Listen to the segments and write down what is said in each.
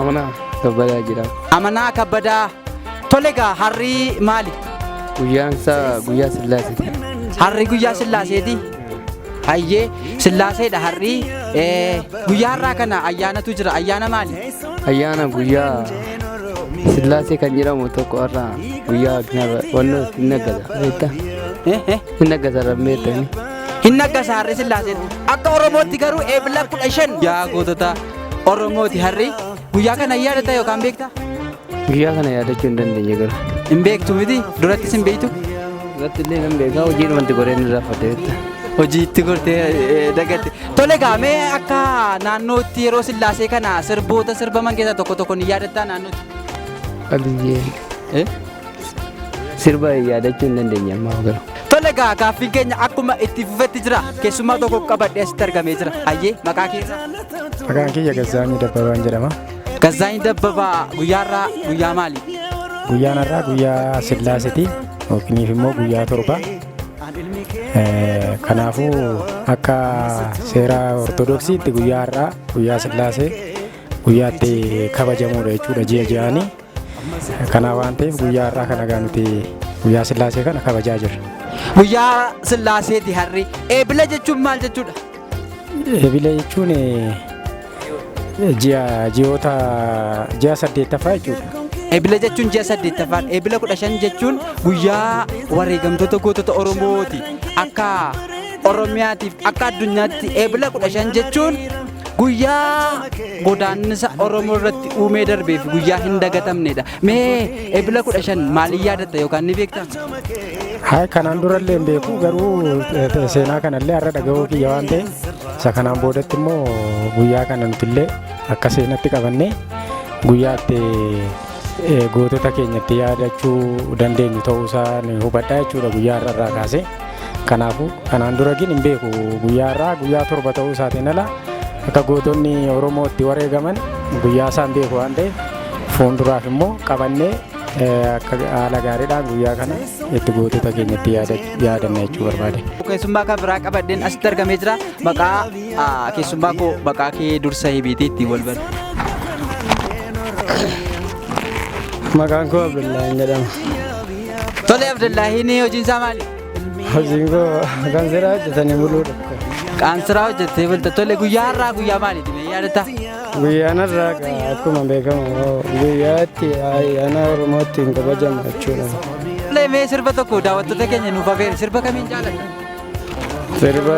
Amanaa kabbadaa jira. Amanaa kabbadaa. Tole egaa harri maali? Guyyaan isaa guyyaa sillaaseeti. Harri guyyaa sillaaseeti. Hayyee sillaaseedha harri. Eh, Guyyaa har'aa kana ayyaanatu jira. Ayyaana maali? Ayyaana guyyaa sillaasee kan jedhamu tokko har'a guyyaa wannoo hin naggata. Beekta? Eh, eh. Hin naggata rabmeettani. Hin naggasa harri sillaaseen. Akka Oromootti garuu eebila kudha shan. Yaa gootota. Oromooti harri guyyaa kana yaadata yookaan beekta? Guyyaa kana yaadachuu hin dandeenye garuu. Hin beektu miti durattis hin beektu. Duratti illee nan beekaa hojii dhumatti goreen irraa fadheetta. Hojii itti gortee dagatte. Tole gaamee akka naannootti yeroo sillaasee kana sirboota sirbaman keessaa tokko tokko ni yaadattaa naannootti? Qabiyyee. Sirba yaadachuu hin dandeenye ammaa garuu. Tole egaa gaaffiin keenya akkuma itti fufetti jira. Keessummaa tokko qabadhee asitti argamee jira. Hayyee maqaa keessa. Maqaan kiyya Gazzaanyii Dabbabaan jedhama. Gazzaanyii Dabbabaa guyyaarraa guyyaa maali? Guyyaan har'aa guyyaa Sillaaseti yookiiniif immoo guyyaa torba. Kanaafuu akka seera Ortodoksiitti guyyaa har'aa guyyaa Sillaasee guyyaatti kabajamuudha jechuudha ji'a ji'aanii. Kanaa waan ta'eef guyyaa har'aa kana egaa nuti guyyaa sillaasee kana kabajaa jirra. Guyyaa sillaaseeti harri. Eebila jechuun maal jechuudha? Eebila jechuun ji'a ji'oota ji'a saddeettaffaa jechuudha. Eebila jechuun ji'a saddeettaffaa. Eebila kudha shan jechuun guyyaa wareegamtoota gootota Oromooti. Akka Oromiyaatiif akka addunyaatti eebila kudha shan jechuun Guyyaa godaannisa Oromoo irratti uumee darbee fi guyyaa hin dagatamnedha. Mee ebila kudha shan maaliin yaadatta yookaan ni beektaa? Hayi kanaan durallee hin beeku garuu eh, te- seenaa kanallee har'a dhaga'uu kiyya waan ta'e isa kanaan boodatti immoo guyyaa kana nutillee akka seenatti qabannee guyyaa itti eh, gootota keenya itti yaadachuu dandeenyu ta'uusaa ni hubadha jechuudha guyyaa har'a irraa kaasee. Kanaafuu kanaan dura gin hin beeku guyyaa irraa guyyaa torba ta'uu isaatiin ala akka gootonni Oromoo itti wareegaman guyyaa isaa hin beeku waan ta'eef fuulduraaf immoo qabannee akka haala gaariidhaan guyyaa kana itti gootota keenya itti yaadanna jechuu barbaade. Keessummaa kan biraa qabadheen asitti argamee jira. Maqaa keessummaa koo maqaa kee dursa hibiitii ittiin wal bari. Maqaan koo Abdullahi jedhama. Tole Abdullaahiin hojiin isaa maali? Hojiin koo kan seeraa hojjetanii buluudha. Qaansiraa hojjettee bulta. Tole guyyaa har'aa guyyaa maaliiti? Mee yaadatta? Guyyaan har'aa egaa akkuma beekamu guyyaa itti ayyaana Oromoo ittiin kabajamu jechuudha. Tole mee sirba tokko daawwattoota keenya nuuf afeeri. Sirba kamiin jaalatta? Sirba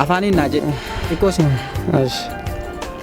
Afaaniin naa jedhu. Xiqqoo siin. ash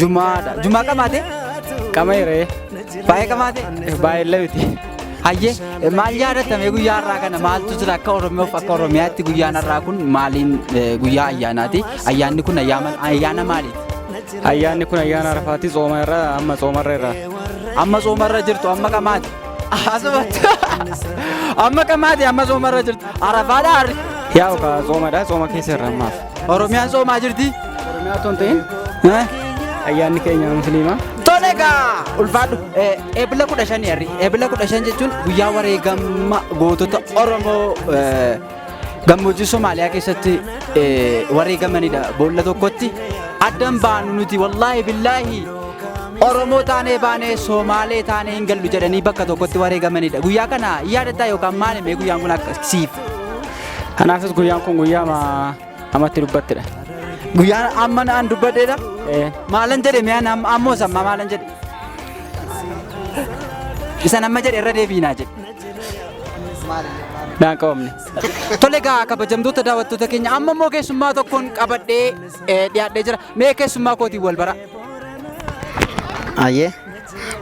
Jumaadha. Jumaa qamaate? Qameeree. Baay'ee qamaate? Baay'ee lewiti. Hayyee eh, maal yaadatamee guyyaa har'aa kana maaltu jira akka Oromoof akka Oromiyaatti guyyaan har'aa kun maaliin eh, guyyaa ayyaanaati? Ayyaanni kun ayyaama- ayyaana maaliiti? Ayyaanni kun ayyaana arafaati tsooma irra amma tsooma irra irra. Amma soomarra jirtu amma qamaate. Asumatti. Amma qamaate amma soomarra jirtu. Arafaadha harri. Yaa okaa tsoomadha tsooma keessa irra ammaaf. Oromiyaan soomaa jirti. Oromiyaa otoo hin ta'in Eh? ayyaanni keenya musliimaa. Tole egaa ulfaadhu Eh, eebila kudha shan yarri eebila kudha shan jechuun guyyaa wareegamma gootota Oromoo eh, gammoojjii Somaaliyaa keessatti eh, wareegamanidha boolla tokkotti addan baanu nuti wallaahi billaahi Oromoo taanee baanee Somaalee taanee hin gallu jedhanii bakka tokkotti wareegamanidha guyyaa kana yaadataa yookaan maali mee guyyaan kun akka siif Kanaafis guyyaan kun guyyaa amatti dubbattedha. Guyyaan amma naan dubbadheedha. Maalan jedhe miyaan ammoo sammaa maalan jedhe. Isan amma jedhe irra deebiinaa jedhe. Naan qabamne. Tole egaa kabajamtoota daawwattoota keenya amma immoo keessummaa tokkoon qabadhee dhiyaadhee jira. Mee keessummaa kootiin wal bara. Ayyee.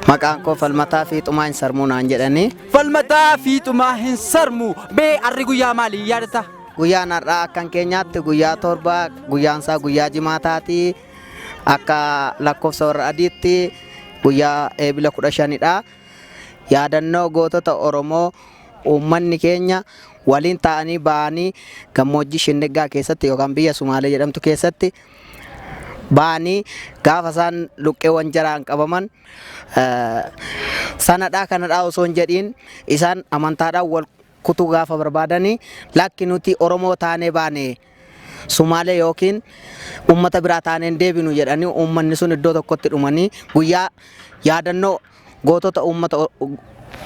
Maqaan koo falmataa fi xumaan sarmuu naan jedhanii Falmataa fiixumaa hin sarmu. BR guyyaa maalii yaadata? Guyyaan har'aa akkan keenyaatti guyyaa torba guyyaansaa guyyaa jimaataati akka lakkoofsa warra adiitti guyyaa eebila kudha shanidha yaadannoo gootota oromoo uummanni keenya waliin ta'anii ba'anii gammoojjii shindiggaa keessatti yookaan biyya sumaalee jedhamtu keessatti ba'anii gaafa isaan luqqeewwan jaraan qabaman sanadhaa kanadhaa osoo hin jedhiin isaan amantaadhaan wal kutuu gaafa barbaadanii lakki nuti Oromoo taanee baane Sumaalee yookiin uummata biraa taaneen deebinu jedhanii uummanni sun iddoo tokkotti dhumanii guyyaa yaadannoo gootota uummata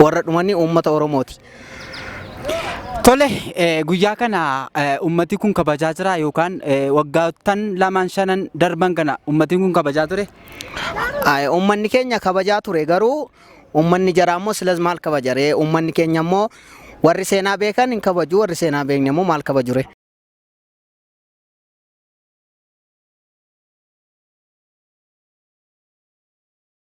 warra dhumanii uummata Oromooti. Tole guyyaa kana ummati kun kabajaa jira yookaan waggaattan lamaan shanan darban kana ummati kun kabajaa ture. Ay, Uummanni keenya kabajaa ture garuu uummanni jaraa immoo silas maal kabaja ree? Uummanni keenya immoo warri seenaa beekan hin kabaju warri seenaa hin beekne immoo maal kabaju ree?